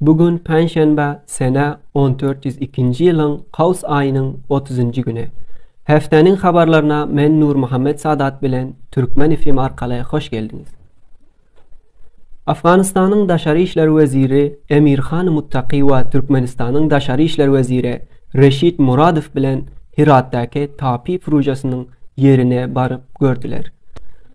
Bu gün penşenbe sene 1402-nji ýylyň Kaws aýynyň 30-njy güni. Hefteniň habarlaryna men Nurmuhammet Sadat bilen Türkmen FM arkaly hoş geldiňiz. Afganistanyň daşary işler weziri Emirhan Muttaki we Türkmenistanyň daşary işler weziri Reşit Muradow bilen Hiratdaky Tapi prujasynyň ýerine baryp gördüler.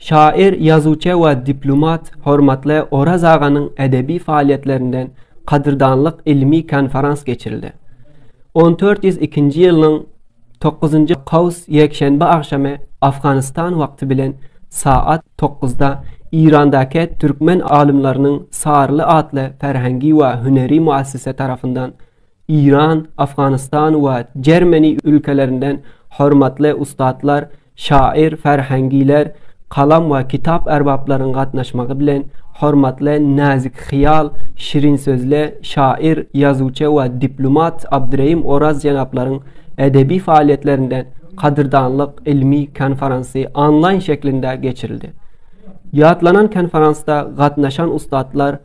Şaýyr, ýazuwçy we diplomat hormatly Oraz aganyň edebi faaliýetlerinden kadyrdanlyk ylmy konferans geçirildi. On dört ýüz ikinji ýylynyň dokuzynjy kaws ýekşenbe agşamy Afganistan wagty bilen saat dokuzda Irandaki türkmen alymlarynyň Saryly atly ferhengi we hüneri muassise tarapyndan Iran, Afganystan we Germany ülkelerinden hormatly ussatlar, şaýyr, ferhengiler, kalam we kitap erbaplaryň gatnaşmagy bilen hormatly näzik hyýal, şirin sözli şaýyr, ýazuwçy we diplumat Abdyrehim Oraz jenaplaryň edebi faaliýetlerinden gadyrdanlyk ylmy konferansy onlaýn şeklinde geçirildi. Ýatlanan konferansda gatnaşan ussatlar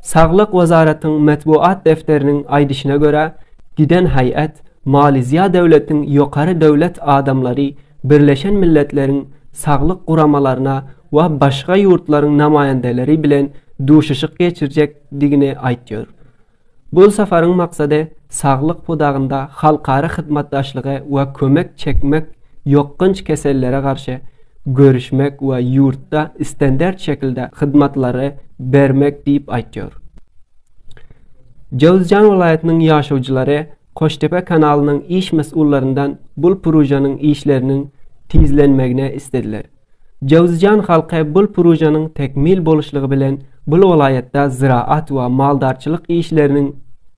Saglyk wezaratyň metbugat defteriniň aýdyşyna görä, giden haýat Maliziýa döwletiň ýokary döwlet adamlary Birleşen Milletleriň Saglyk Guramalaryna we başga ýurtlaryň namaýandeleri bilen duşuşyk geçirjekdigini aýtýar. Bu saparyň maksady saglyk pudagynda halkara hyzmatdaşlygy we kömek çekmek ýokgunç kesellere garşy görüşmek we ýurtda standart şekilde hyzmatlary bermek diýip aýtýar. Jowzjan welaýatynyň ýaşaýjylary Koştepe kanalynyň iş mesullaryndan bul purujanyň işleriniň tizlenmegine islediler. Jowzjan halky bul purujanyň tekmil boluşlygy bilen bul welaýatda zyraat we maldarçylyk işleriniň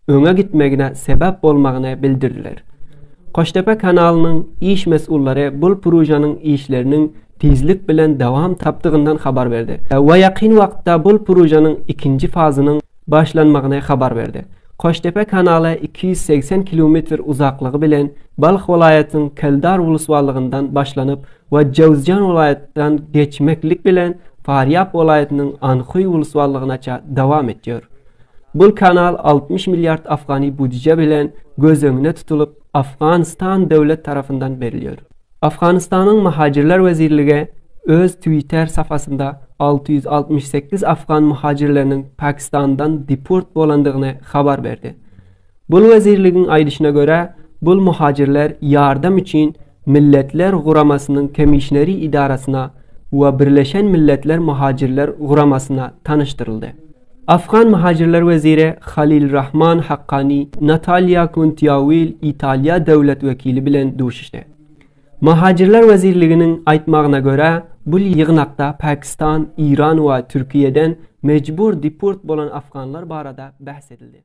öňe gitmegine sebäp bolmagyny bildirdiler. Koştepe kanalynyň iş mesullary bul pružanyň işleriniň tizlik bilen dowam tapdygyndan habar berdi we ýakyn wagtda bul pružanyň ikinji fazynyň başlanmagyny habar berdi. Koştepe kanaly iki ýüz segsen kilometr uzaklygy bilen Balh welaýatynyň Keldar uluswalygyndan başlanyp we Jowzjan welaýatdan geçmeklik bilen Farýap welaýatynyň Anhuý uluswalygynaça dowam etýär. Bul kanal altmyş milliard afgani budije bilen göz öňüne tutulyp, Afganistan döwlet tarapyndan berilýär. Afganistanyň Muhajirler wezirligi öz Twitter sapasynda alty ýüz altmyş sekiz afgan muhajirleriniň Pakistandan deport bolandygyny habar berdi. Bul wezirligiň aýdyşyna görä, bul muhajirler ýardam üçin Milletler Guramasynyň Kemişneri idarasyna we Birleşen Milletler Muhajirler Guramasyna tanyşdyryldy. Afgan muhajirler weziri Halil Rahman Haqqani Natalýa Kuntiawil Italiýa döwlet wekili bilen duşuşdy. Muhajirler wezirliginiň aýtmagyna görä, bul ýygnakda Pakistan, Iran we Türkiýeden mejbur deport bolan afganlar barada bäs edildi.